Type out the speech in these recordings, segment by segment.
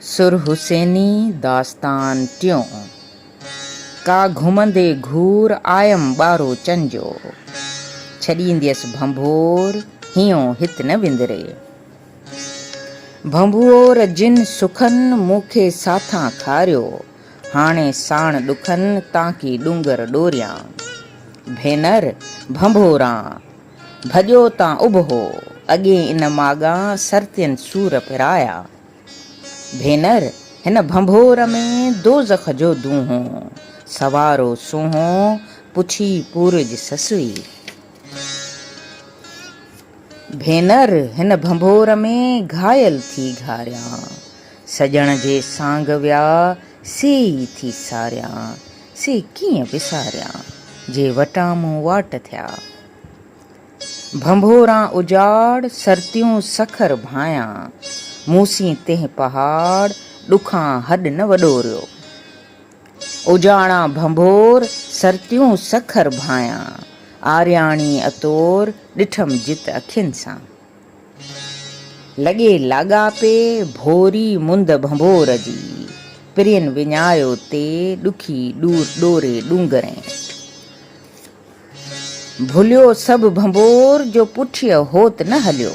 سر حسيني داستان ٽيون. ڪا گهمندي گهور آيم ٻارو چن جو. ڇڏينديس ڀنڀور هينئون هت نه وندري. ڀنڀور جن سکن مون کي ساٿان کاريو. هاڻي ساڻ ڏکن تانڪي ڏونگر ڏوريان. ڀينر ڀنڀوران! ڀڄو تان اڀو، اڳي ان ماڳان سرتين سور پرايا. ڀينر! هن ڀنڀور ۾ دوزخ جو دونهو، سوارو سونهو، پڇي پورج سسئي. ڀينر! هن ڀنڀور ۾ گهايل ٿي گهاريان، سڄڻ جي سانگ ويا سي ئي ٿي ساريان. سي ڪيئن وساريان، جي وٽان مون واٽ ٿيا. ڀنڀوران اجاڙ، سرتيون سکر ڀانئيان. مون سين تنهن پهاڙ، ڏکان هڏ نه وڏوريو. اجاڙان ڀنڀور، سرتيون سکر ڀانئيان. آرياڻي اطور، ڏٺم جت اکين سان. لڳي لاڳاپي ڀوري مند ڀنڀور جي، پرين وڃايو تي ڏکي ڏور ڏوري ڏونگرين. ڀليو سڀ ڀنڀور جو پٺيء هوت نه هليو،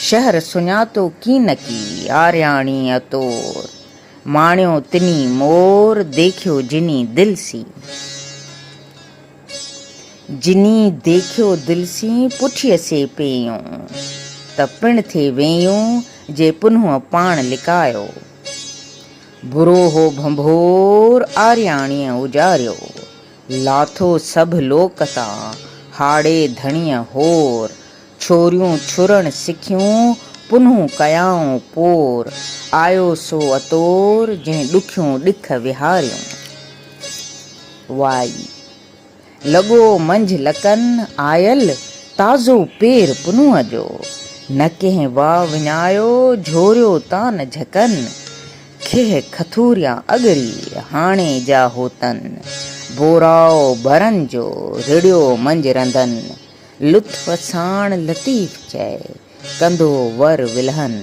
شهر سڃاتو ڪينڪي آرياڻيء طور، ماڻيو تني مور ديکيو جني دل سين. جني ديکيو دل سين پٺيء سي پيئون، ته پڻ ٿي ويئون جي پنهون پاڻ لڪايو. برو هو ڀنڀور آرياڻيء اجاريو، لاٿو سڀ لوڪ تان هاڙي ڌڻيء هور، ڇوريون ڇرڻ سکيون، پنهون ڪيائون پور. آيو سو اطور، جنهن ڏکيون ڏک وهاريون. وائي. لڳو منجهه لڪن، آيل تازو پير پنهون جو. نه ڪنهن واء وڃايو، جهوريو تان جهڪن. کهه کٿوريان اڳري، هاڻي جا هوتن. بوراء ڀرن جو، رڙيو منجهه رنڌن. لطف ساڻ لطيف چئي، ڪندو ور ولهن.